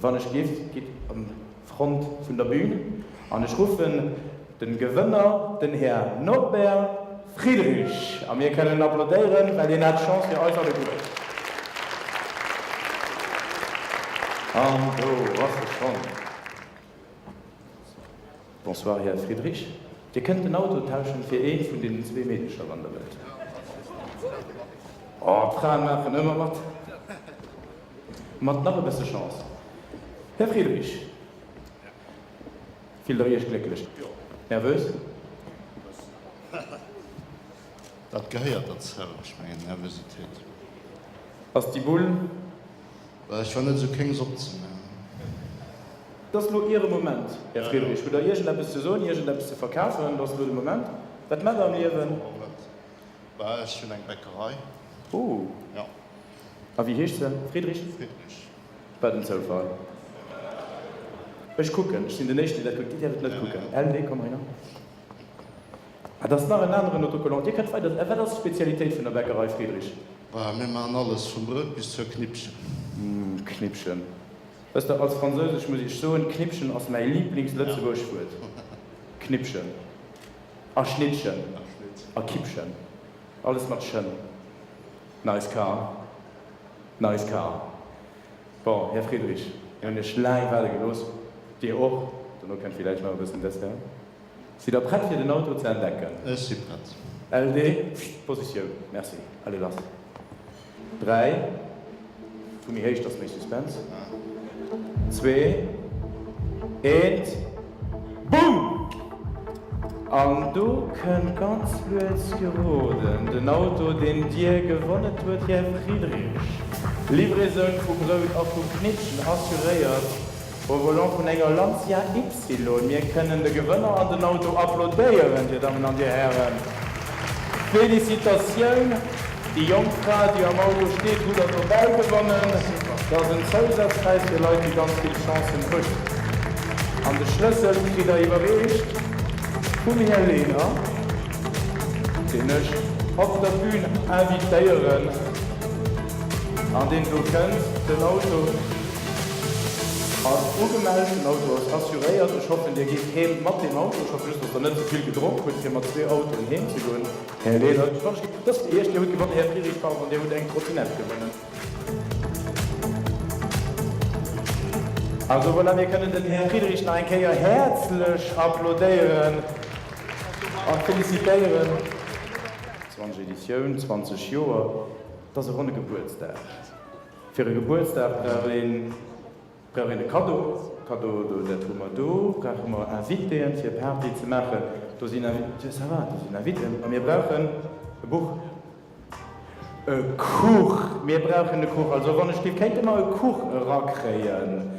Wann ech giff, gitt an Front vun der Bühn an ech ruffen den Gewënner, den Här Norbert Friedrich, a mir kënnen en applaudéieren, well hien hat d'Chance fir eis alleguer. An do ass e schonn. Bonsoir Här Friedrich, Dir kënnt den Auto tauschen fir eent vun deenen zwee Meedercher wann Der wëllt. Oh, d'Fraen maachen ëmmer mat. Mat nach e bësse Chance, Här Friedrich, fillt Der Iech glécklech. Nervös? Dat gehéiert derzou, ech mengen Nervösitéit. Ass déi Bull. Well ech war net esou kéng se opzemaachen. Et ass elo Iere Moment, Här Friedrich. Hutt Der iergendeppes ze soen, iergendeppes ze verkafen? Et ass elo de Moment. Wat maacht Der am Liewen? Bah, ech hunn eng Bäckerei. Oh. Jo. A wéi heescht se? Friedrich? Friedrich. Wat en Zoufall. Ech kucken. Ech sinn den Éischten, deen dat kuckt. Dir däerft et net kucken. LW, komm heihinner. Ah, dat ass nach en aneren Autocollant. Dir kënnt weider. Wat ass d'Spezialitéit vun der Bäckerei Friedrich? Bah, mir maachen alles, vum Brout bis zur Knippchen. Uhm, Knippchen. Wësst Der, als Fransousesch muss ech soen, Knippchen ass mäi Liiblings-Lëtzebuergesch Wuert. Knippchen. A Schnittchen. A Kippchen. Alles mat chen. Nice car. Nice car. Bon, Här Friedrich, mir hunn Iech laang waarde gelooss. Dir och. Dono kënnt villäicht nach e bëssen Dessert. Sidd der prett fir den Auto ze entdecken? Ech si prett. LD, Pscht, Positioun, merci. Allez lass. 3, Vu méi héich, dass méi Suspense. 2, 1, Boom! An do kënnt ganz lues geroden den Auto, deen Dir gewonnet huet, Här Friedrich. Livraison vu Brout a vu Knittchen assuréiert. Au volant vun enger Lancia Ypsilon. Mir kënnen de Gewënner an den Auto applaudéieren, Dir Dammen an Dir Hären. Félicitatioun! Déi jonk Fra, déi am Auto steet, hutt Der dobäi gewonnen. Dat ass en Zousazpräis fir Leit, déi ganz vill Chancen hunn. An de Schlëssel kritt Der iwwerreecht vum Här Lehner, deen ech op der Bühn invitéieren an deen elo kënnt den Auto Ass ugemellt, den Auto ass assuréiert. Ech hoffen dir geet heem mat deem Auto. Ech hoffen just dass der net ze vill gedronk hutt fir mat zwee Autoen heem ze goen. Här Lehnert, wann ech ginn, dass Dir Iech, Dir hutt gewonnen Här Friedrich, pardon, Dir hutt eng Trottinett gewonnen. Also voilà, mir kënnen den Här Friedrich nach eng Kéier häerzlech applaudéieren a félicitéieren. 20 Editioun, 20 Joer, et ass e ronne Gebuertsdag. Fir e Gebuertsdag brauch een, brauch een e Kaddo. Kaddo, do, dat hu mer do. Brauche mer Invitéen, fir Party ze maachen. Do sinn Invi, ça va, do sinn Inviten. A mir brauchen e Buch. E Kuch, mir brauchen e Kuch. Also, wann ech giff, kéinte mer e Kuch erakréien.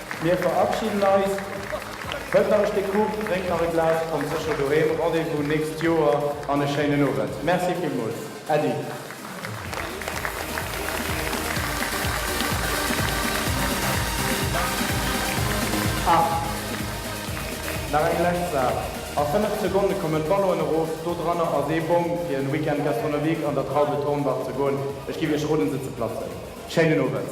Mir verabschieden eis. Hëlt nach e Stéck Kuch, drénkt nach e Glas, kommt sécher doheem. Rendez-vous nächst Joer an e schéinen Owend. Merci villmools. Äddi. Ah, nach eng lescht Saach. A 5 Sekonne kommen d'Ballonen erof. Do dranner ass ee Bong fir en Week-end Gastronomique an der Traube Thornbach ze goen. Ech giff Iech roden se ze platzen. Schéinen Owend.